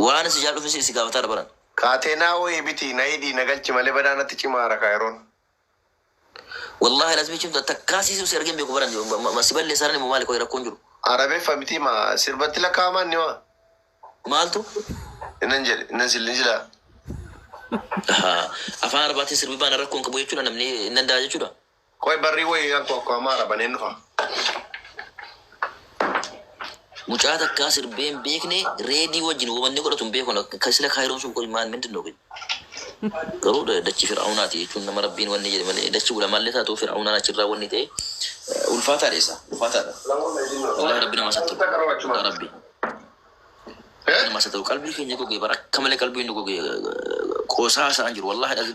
Waani si jaaladhuf isi isi gaafataadha baran. Kaatee naa wohii bitii na hidhii na galchi malee badaa natti cimaara kaa yeroon. Wallahi lazimi cimtu ati takkaa siisiru si argee hin beeku baran ma si balleessaarani moo maali qoyi rakkoon jiru. Arabeffa mitii ma sirbatti lakkaa'ama inni ma. Maaltu. Innan jedhe innan sillin silaa. Ahaa afaan arabaatin sirbi baana rakko hin qabu jechuudha namni hin danda'a jechuudha. Qoy barrii woyii anko akko amma arabaneen dhufa. Mucaa takkaa sirbee hin beekne reedii wajjin woma inni godhatu hin beeku ani akka sila kaayiroon sun qoy maal mindin kun garuu da- dachi fir'aunaati jechuun nama rabbiin wanni jedhe malee dachi ulamaallee taatu fir'aunaan achirraa wanni ta'e eh, ulfaataa dheessa ulfaataadha wallahi rabbi nama sattu yaa rabbi nama sattu qalbii keenya gogee bara akka malee qalbii nu gogee eh, qoosaa isaan jiru wallahi dhagi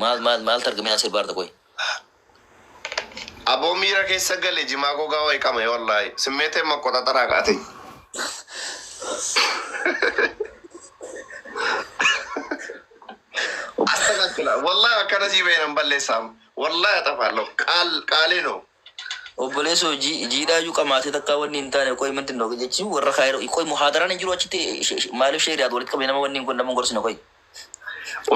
Maal maal maaltu argame naan sirbaa jirta qoyi. Aboo miira keessa gale jimaa gogaa wayi qamae wallaahi simmeeteen maqqoxaxara aqaateny. Astagafila wallaahi akkana sii bahe nan balleessa amma wallaahi axafaallo qaal qaalee noo. Obbolesoo jiidhaa iyyuu qamaasee takkaa wanni hin taane qoy manti noo jechi warra kaayiroo qoy muhaadaraan hin jiru achitti maalif sheeriyaat walitti qabde nama wanni hin kun nama hin gorsine qoy.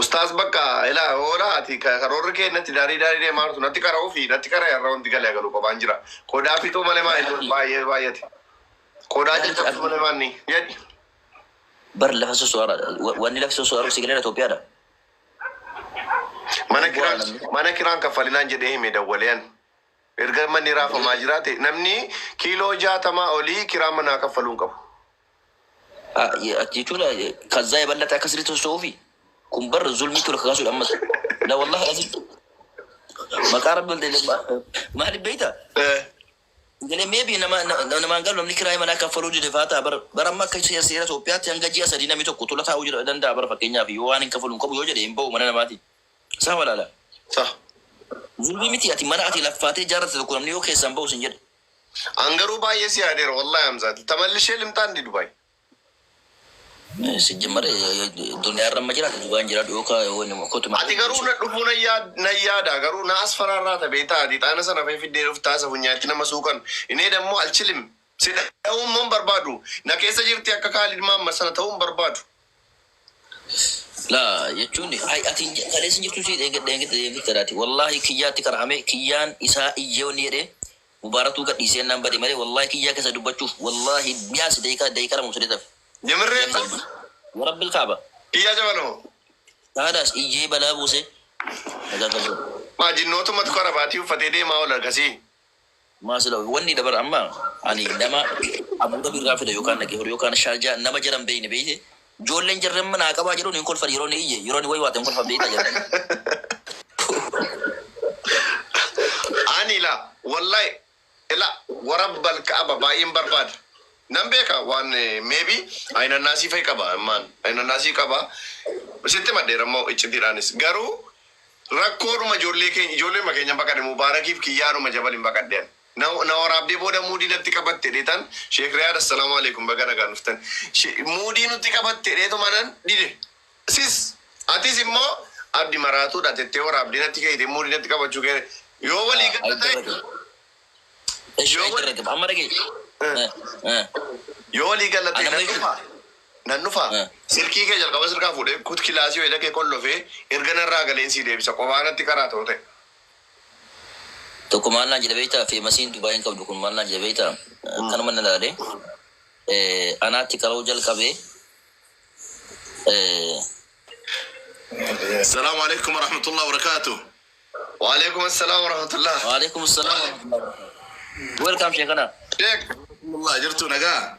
Ustaaz bakka ila hoola ati karoorri kee natti daarii daarii deemaa jirtu natti qara'uu fi natti qara'e har'a wanti galee galu qophaan jira qodaa fixuu malee maa inni baay'ee baay'ate qodaa caccabsuu malee maa inni jedhi. Bar lafa sosoara wanni lafa sosoaru si galee Itoophiyaadha. Mana kiraan mana kiraan kaffalinaan jedhee hime dawwalee an. Erga manni raafamaa jiraate namni kiiloo jaatamaa olii kiraa manaa kaffaluu hin qabu. jechuun kazzaa yeballaxe akka sirriitti socho'uufi kun bar zulmii tola kakaasuudha ammas la wallahi azim maqaa rabbi ol ta'e maaliif beekta Hin galee may be nama nama hin galu namni kiraayii manaa kaffaluu dide faa ta'a bar bar amma akka seera seera Itoophiyaatti hanga ji'a sadii namni tokko tula taa'uu jira danda'a bar fakkeenyaaf yoo waan hin kafalu hin qabu yoo jedhe hin ba'u mana namaatii sah wala laa? Sah. Zulmii mitii ati mana ati laffaatee ijaarratte tokko namni yoo keessaa hin ba'u sin jedhe. An garuu baay'ee si yaadeera wallahi Hamzaa tamallishe limxaa indi dubai. Sijjimar duniyaa irra amma jiraata dugaan jiraadhu yoo kaa yoo nama kotu Ati garuu na dhufuu na yaad na yaada garuu na as faraarraata beektaa ati ixaana sana fee fiddee dhuftaa isa funyaa itti nama suuqan inee dammoo alchilim si dha'uu immoo hin barbaadu na keessa jirti akka kaalid maammad sana ta'uu hin barbaadu. Laa jechuun hay ati hin kaleessa hin jirtu si dheengadhe dheengadhe dheengadhe ati wallaahi kiyyaatti qara'ame kiyyaan isaa iyyee wanni jedhee Mubaaratuu gadhiisi jennaan bade malee wallahi kiyyaa kessa dubbachuuf wallahi biyaansi daqiiqaa daqiiqaa lama osoo deetaf Nimirree deemsa Abbaa. Warabbil kaaba. Iyyaa jabanoo. Saadaas iyyee balaa buuse nagaa qabdoo. Maa jinnootummatu kara baatii uffatee deemaa oola gasii. Maa sila wanni dha bar amma ani nama Abu Dhabi irraa fida yookaan dhaqee horii yookaan Sharjah nama jara hin beeyne beeyte Ijoolleen jarri amma naa qabaa jedhuun hin kolfan yeroo inni iyye yeroo inni waywaate hin kolfan beektaa jarri. Ani ila wallahi ila warabbal ka'aba baay'een barbaada nan beeka waan maybe ayinannaasii fa'i qaba immaan ayinannaasii qaba sitti madheera immoo iccitiidhaanis garuu rakkoodhuma ijoollee keenya ijoolleema keenya baqadhe mubaarakiif kiyyaadhuma jabaliin baqadhe ani. Na na waraabdee booda muudii natti qabatte dheetan sheek riyaad assalaamu aleekum baga nagaan dhuftan She- muudii nutti qabatte dheetumanan dide sis atis immoo abdi maraatuudha tettee waraabdee natti keeyte muudii natti qabachuu kee yoo walii Ah, galla ta'e aydarragam. Ish, yoo walii aydarragam. Amma dhagee. Eh, eh, yoo walii galla ta'e Anamni nan kun- dhufa nan dhufa Eh. silkii kee jalqaba sirkaa fuudhee kut kilaasii wayila kee qollofee erga narraa galeen sii deebisa qobaa natti karaa ta'u ta'e tokko maal naan jedhe beektaa feemasiin Dubai hin qabdu kun maal naan jedhe beektaa akkanuma na laale anaatti qara'uu jalqabe Salaamu alaikum warahmatullahi wabarakatuh. Wa alaikum assalam warahmatullahi. Waalaikum salaam. Welcome sheekana. Sheek. Alhamdulillah jirtu nagaa.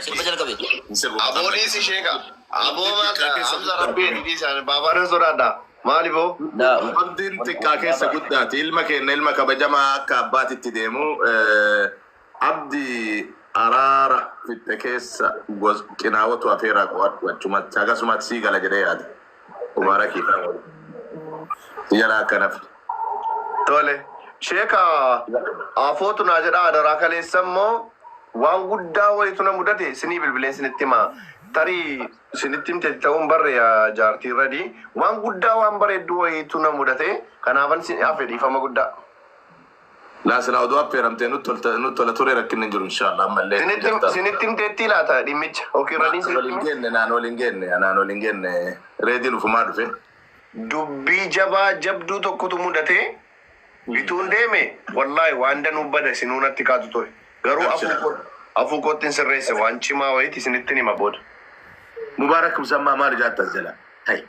Sirba jalqabe. Aboolee si sheeka. Aboo maal Hamza rabbii ati dhiisaan baabaanan sodaadha. Maali boo? Laa. Abdiin xiqqaa keessa guddaati. Ilma keenna ilma kabajamaa akka abbaatitti deemu. Abdi araara fixxe keessa qinaawatu afeeraa qo'adhu achumatti. Hagasumati sii gala jedhee yaada. Umara kitaa wal. Yala akkanaf. Tole. Sheeka afootu naa jedha adaraa kaleessa immoo waan guddaa wayitu na mudate sinii bilbileen sinitti hima. Tarii sinitti himte ta'uun barre yaa jaartii irradi. Waan guddaa waan bareedduu wayitu na mudate kanaafan sin hafe dhiifama guddaa. Laa silaa oduu affeeramtee nut tolta- nut tola ture rakkinni hin jiru inshaallah ammallee Sinitti jirta. sinitti himteettii laata dhimmicha? Yookiin Na- radiin wal hin sinitti geenne naan wal hin geenne naan wal hin geenne reediin ufumaa dhufe dubbii jabaa jabduu tokkotu mudatee bituun deeme wallaahi waan danuu bada isinuu natti kaatu ture. Garuu afuu koo afuu koottin sirreesse waan cimaa wayiiti isinittin hima booda. Mubaarak Musammaa maal hojaatta as jala? Hay.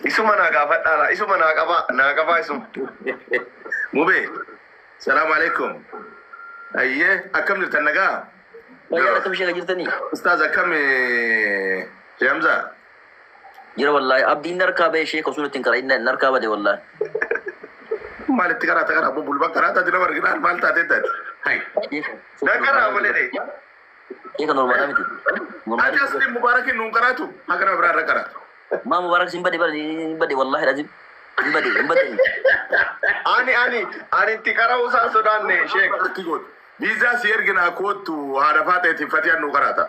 Isuma naa gaafadhaa laa isuma naa qabaa naa qabaa isuma. Mubee. Salaamu alaikum. Ayyee akkam jirtan nagaa? Fayyaa akkam ishee jirtanii? Ustaaz akkam eh, Hamza? Jira wallahi abdiin narkaa ba'e sheeka osoo ittiin qara inni narkaa bade wallahi. Maal itti qaraata kana abbo bulba qaraata ati nama arginaan maal taatee taati. Na qaraa malee dee. Sheeka normaalaa miti. Ati asli mubaarakiin nuun qaraatu haga nama biraa irra qaraatu. Maa mubaarak sin bade bade hin bade wallahi lazim. Hin bade hin bade. Ani ani ani itti qara'uu isaa sodaanne sheek. Viizaa si erginaa koottu haadha faaxeetiif fatiyaan nuu qaraata.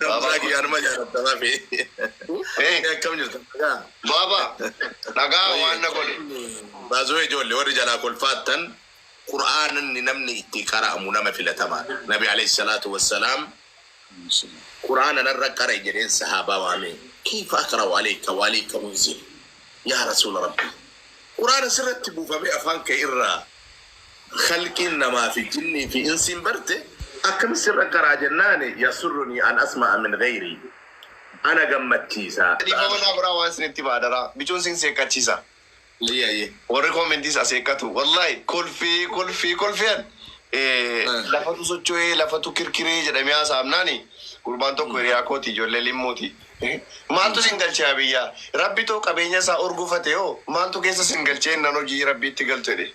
Baabaa kiyya anuma jaalatta mafi. Akkam jirtu nagaa? Baaba nagaa waan na godhe. Baazoo ijoollee warri jalaa kolfaattan Qur'aanni namni itti qara'amu nama filatamaadha. Nabi alayhi salaatu wassalaam Qur'aana narra qara'i jedheen sahaabaa waamee kayfa aqra'u alayka wa alayka unzil yaa rasuula rabbii Qur'aana sirratti buufamee afaan kee irraa khalqiin namaa fi jinnii fi insiin barte akkamitti sirra qaraa jennaan yasurrunii an asma'a min ghayrii ana gammachiisa. Dhiifama naa godhaa waan isinitti hima adaraa bichuun siin seeqqachiisa warri comments as eeqqatu wallahi kolfee kolfee kolfee an lafatu socho'ee lafatu kirkiree jedhamee haasa'amnaani gurbaan tokko hiriyaa kooti ijoollee limmuuti maaltu isin galche yaa biyyaa rabbi too qabeenya isaa urgufate hoo maaltu keessa isin galchee ennaan hojii rabbiitti galtu jedhe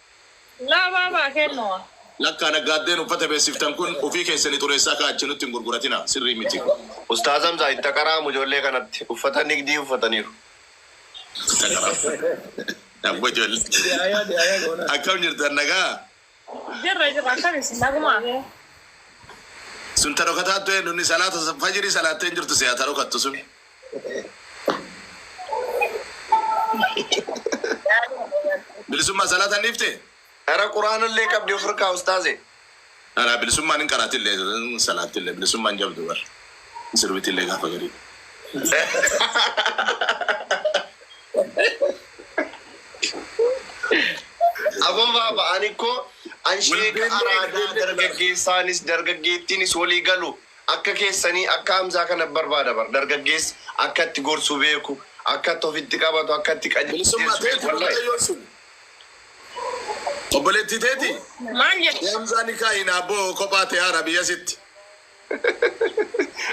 Laabaa baa kennua. Lakkaa naggaaddeen uffata beeksiftan kun ofii keessani xureessaa kaa achi nutti hin gurguratinaa sirrii miti. Ustaaz Hamzaa itti aqaraamu ijoollee kanatti uffata nigdii uffataniiru. Itti aqaraamu abbo ijoollee akkam jirtan nagaa. Jirra jirra akkam isin nagumaa. Sun ta dhokataattu eennu inni salaata fajiri salaatte hin jirtu siyaa ta dhokattu sun. Bilisummaa salaataan dhiifte? Ara qur'aana illee qabdi of irkaa ustaaze. Ara bilisummaan hin qaraati illee hin salaatti illee bilisummaan jabdu bar hin sirbiti illee gaafa garii. Aboo baaba ani koo an sheeka araadaa dargaggeessaanis dargaggeettiinis walii galu Akka keessanii akka Hamzaa kana barbaada bar dargaggeessi akka itti gorsu beeku akka itti ofitti qabatu akka itti Bilisummaa qajeelchu beeku teeti wallahi. mucayyoon sun obboleettii teeti Maal jette? mee Hamzaa nikaa hin abboo kophaa tee haara biyya sitti.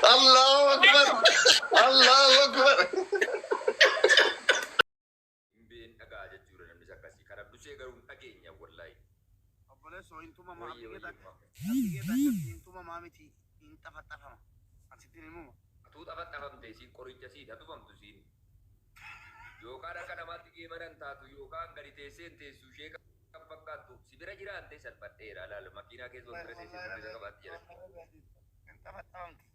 Allahu akbar Allahu akbar. Hin been dhaga'a jechuudha namnis akkasi kan abdusee garuu hin dhageenya wallaahi. Obbolesso hin tumama abdi geta akka abdi geta akkasi hin tumama miti hin xafaxafama an sittin himuma. Atuu xafaxafamte isiin qoricha siit hatufamtu isiin yookaan akka namaatti geemana hin taatu yookaan gadi teessee hin teessu ishee kan fakkaattu si bira jira antee salphadheera laal makiinaa keessa ol bira teessee furdisa qabaatti jedhani. Hin xafaxafamti.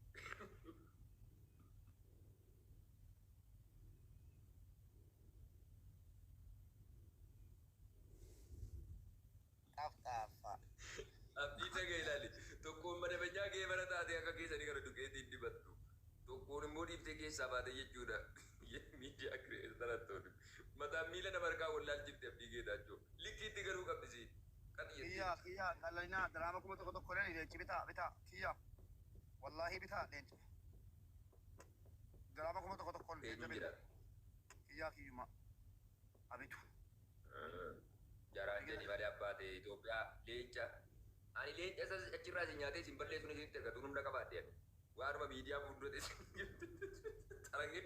Xaf xaf fa. Abdii taga ilali. Tokkoon madabanyaa geebara taatee akka keessanii kana duqeetiin dibattu. Tokkoon immoo dhiiftee keessaa baate jechuudha. Yaa miidiyaa kireetar hattooni. Mataan miila nama harkaa wal laalchifti Abdii Geetaachoo. Likkiitti galuu qabdi isiin. Qax jettee. Kiya kiya qalina dirama kuma tokko tokko ilali lenci bita bita kiya walahi bita lenci. Diraama kuma tokko tokkon Eenyuun jajjabe jedha? kiyyaa kiyyuma abitu. Jaraan jedhi malee abbaa tee Ethiopia leenca ani leenca isa achirraa isin nyaatee isin balleessuun isinitti erga dur humna qabaadhe ani waanuma miidiyaa fuuldura teessan jirtu xalangee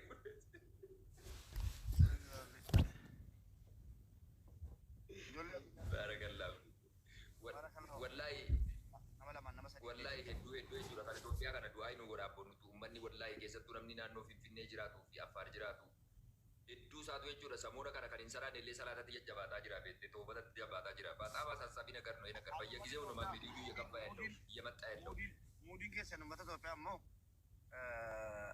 Ijoollee. baarakallahu. Bara kana hoo? Wallaahi Nama lamaan nama sadiin wallaahi deebi'uu hedduu jira. hedduu jechuudha kan Itoophiyaa kana du'aayi nuu godha abboon nutu ummanni wallaahi keessattuu namni naannoo Finfinnee jiraatuu fi Affaar jiraatu hedduu isaatu jechuudha samoona kana kan hin salaanne illee salaatatti jajjabaataa jira beettee toobatatti jabaataa jira baaxaam asaassaafii nagar no yenagar bayya Akkuma gizeew no tootaa maammeediyuu duyya kabbaa yallew muudin biyya maxxaa yallew. muudin muudin keessan ummata Itoophiyaa immoo eh,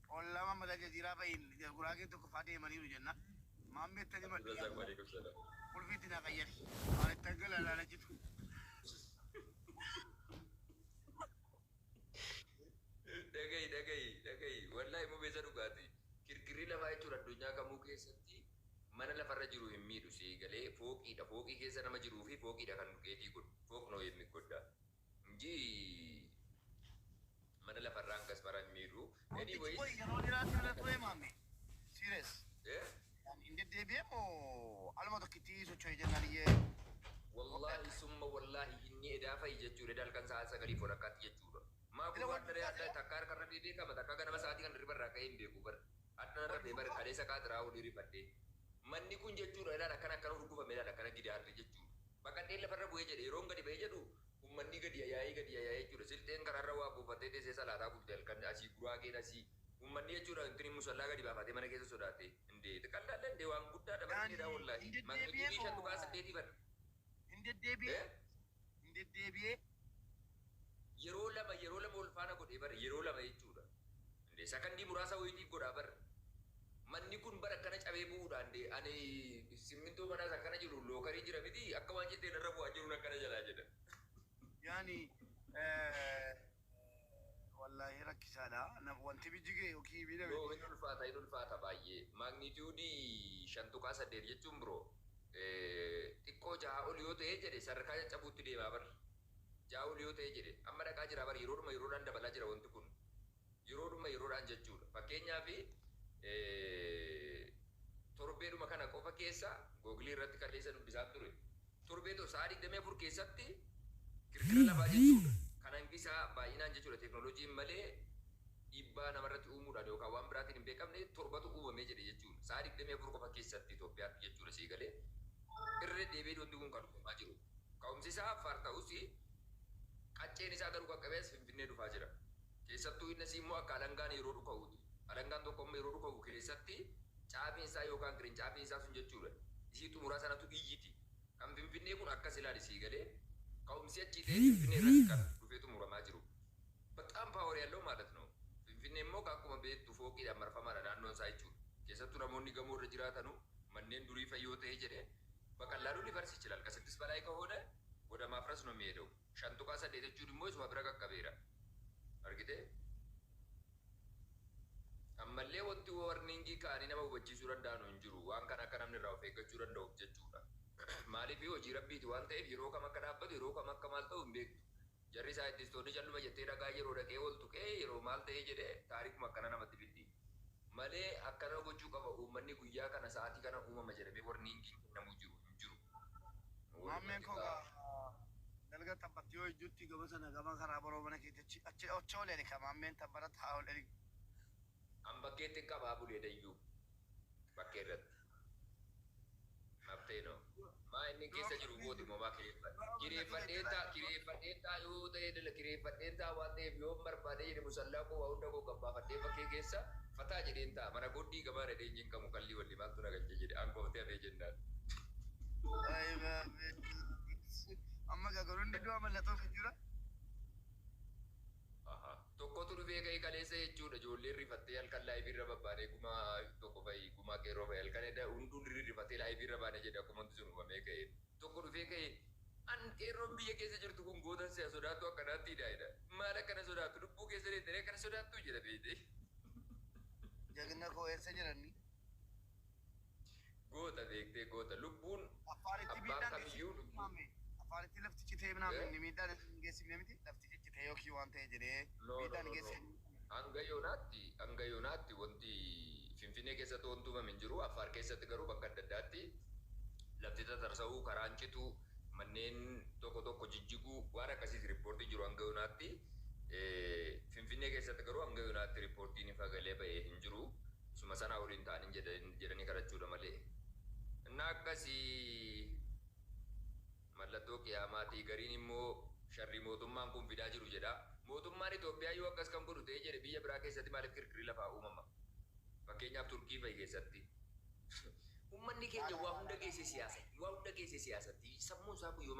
Ollaa Maammed Aljaziiraa bahiin Guraageen tokkoffaa deemaniiru jenna. Maammed tani madhu yaadadhu. Qulfii itti naa qayyari. Maal itti aggala laala jitu. Dhagayi dhagayi dhagayi wallahi mube sa dhugaati kirkirri lafaa jechuun addunyaa kamuu keessatti mana lafarra jiru hin miidhu sii galee fooqiidha fooqii keessa nama jiruufi fooqiidha kan keetii kun fooq noo yemmigodda Ngy mana lafarraa hanga asmaraa hin miidhu Ruuttichi anyways qoyi yeroo dheraa si bira turee maammee? Serious? Eh? Ani hin deddeebi'ee moo aluma tokkittii socho'ee jennaan iyyee waggaa Wallahi akka summa wallahi inni edaa fayi jechuu dha eda halkan sa'aa sagalii fi walakkaatti jechuu dha maa Sila kun waan wajjin dharee taate adda takka harka irra dhee beekama takka ganama sa'aatii kana hirriba irraa ka'ee hin beeku bar Hadhana rafe bar kalesa qaat raahuu ni rifadhe manni kun jechudha ilaal akkana akkana hurgufame ilaal akkana gidaarri jechudha baqadheen lafarra bu'ee jedhe yeroon gadi ba'e jedhu ummannii gadi yayaa'ee gadi yayaa'ee jechudha silxeen karaarra waa buufattee teessee salaataa bulte halkan asii guraageen asii ummanni jechudha intini musallaa gadi baafatee mana keessa sodaate indee tqallaallee indee waan guddaadha bar Daandii, diniidhaa wollaahi hin Maqni deddeebi'ee durii shan moo? dhugaa saddeetii bar Hin deddeebi'ee? ee hin deddeebi'ee. Yeroo lama yeroo lama wal faana godhee bar yeroo lama jechuudha. Ande sakandii muraasa wayiitiif godhaa bar manni kun bar akkana cabee bu'uudha ande ani simmintoo manaa isa akkana jiru lookarii jira miti akka waan cittee narra bu'aa jiruun akkana jalaa jedha. Yaani Wallaahi rakkisaadha naf wanti bijjige yookiin miidhame. No hin ulfaata hin ulfaata baay'ee magnitude 5.8 jechuun bro xiqqoo 6 ol yoo ta'ee jedhe sadarkaa caccabuutti deemaa bar 6 ol yoo ta'ee jedhe amma dhaqaa jiraa bar yeroodhuma yeroodhaan dabalaa jira wanti kun yeroodhuma yeroodhaan jechuudha fakkeenyaaf torbeedhuma kana qofa keessa google irratti kaleessa dubbisaan ture Torbee to sa'aa 24 keessatti kirkira lafaa jechuudha. Kan hangi isaa baay'inaan jechuudha teeknooloojiin malee dhiibbaa namarratti uumuudhaan yookaan waan biraatiin hin beekamne torbatu uumame jedhe jechuun sa'aa 24 qofa keessatti Itoophiyaatti jechuudha sii galee? Irra deebi'ee wanti kun kan uumamaa jiru. Ka'umsi isaa Affaar ta'us qacceen isaa garuu qaqqabee as Finfinnee dhufaa jira. Keessattuu innasii immoo akka alangaan yeroo dhuka'uuti. Alangaan tokko amma yeroo dhuka'u keessatti caafiin isaa yookaan qirincaafiin isaa sun jechuudha isii xumuraa sanatu iyyiti. Kan Finfinnee kun akkas ilaali sii galee? Ka'umsi achii ta'ee Finfinnee irratti kan dhufee xumuramaa jiru. Bexaam power yallow maalat noo. Finfinnee immoo egaa akkuma beektu fooqiidhaan marfamaadha naannoon isaa jechuudha. Keessattuu namoonni gamoo irra jiraatanu manneen durii fa'i yoo ta'e jedhe baqallaalu lifarsi ichilaal. Ka siddis balaayi ka hoone wada maafras no miheedau. 5.8 jechuun immoo isuma bira qaqqabeera. Argitee? Ammallee wanti warning ka'anii nama hubachiisuu danda'anu hin jiru. Waan kana akka namni irraa of eeggachuu danda'uuf jechuudha. Maaliif hojii Rabbiiti waan ta'eef yeroo kam akka dhaabbatu, yeroo kam akka maal ta'u hin beektu. Jarri saayintistoonni calluma jettee dhagaa yeroo dhaqee ol tuqee yeroo maal ta'ee jedhee taarikuma akkana namatti fiddi. Malee akkana gochuu qaba uummanni guyyaa kana sa'aatii kana uumama jedhamee warningiin kennamuu jiru hin jiru. Nu waliin Maammeen koo hojjetaa. gaa dalga tabbatti yoo ijjutti gama sana gama karaa boroo mana keeti achi achi achi ol erika maammeen tabbarat haa ol erik. An bakkeettin qabaa bulee dayyuu bakkee irratti. Habtee no. Maa inni keessa jiru kooti moo maa kireeffadhe? Kireeffadheen ta'a kireeffadheen ta'a yoo ta'ee dala kireeffadheen ta'a waan ta'eef yoon barbaadee jedhe musallaa koo waa hunda koo gabbaafadhee bakkee keessa fataa jedheen taa'a mana kootti gamaa dhadhee hin cinqamu kallii wallhi maaltu na galche jedhe an koftee hafee jennaan. Ayi baabee. Amma egaa kun hundi du'a mallattoo fi jira. Aha tokkotu dhufee ka'e kaleessa jechuudha ijoolleen rifattee halkan live irra babbaanee gumaa tokko fa'i gumaa qeerroo fa'i halkan eda hunduu rifatee live irra baane jedhe akkuma wanti sun uumamee ka'e tokko dhufee ka'e an qeerroon biyya keessa jirtu kun gootan si'a sodaattu akkanaatti hidhaa hidha maal akkana sodaattu lubbuu keessa deettanii akkana sodaattuu jedha beeytee. Jagna koo eessa jiranni. Goota beektee goota. Lubbuun Afaan ittii abbaan miidhaan geessisu kamiyyuu lubbuu. himame. Afaan ittii lafti citee himame Eh? inni miidhaan irra hin geessifne miti. Lafti ciccitee yookiin waan ta'e jedhee No no miidhaan no no. geessifne hin himamne. Hanga yoonaatti hanga yoonaatti wanti Finfinnee keessatti wanti uumame hin jiru. Affaar keessatti garuu bakka adda addaatti lafti tatarsa'uu, karaan cituu, manneen tokko tokko jijjiguu waan akkasiiti riippoortiin jiru hanga yoonaatti. Eh, Finfinnee keessatti garuu hanga yoonaatti riippoortiin ifa galee ba'e hin jiru. Isuma sanaa ol hin taanin jedhanii kadhachuudha malee. Innaa akkasii mallattoo qiyaamaati. Gariin immoo sharrii mootummaan kun fidaa jiru jedha. Mootummaan Itoophiyaa yoo akkas kan godhu ta'ee jedhe biyya biraa keessatti maaliif kirkirri lafaa uumama? Fakkeenyaaf Turkii fa'i keessatti. Ummanni keenya waa hunda geessee siyaasatti. Waa hunda geessee siyaasatti. Sammuun isaa kun yoom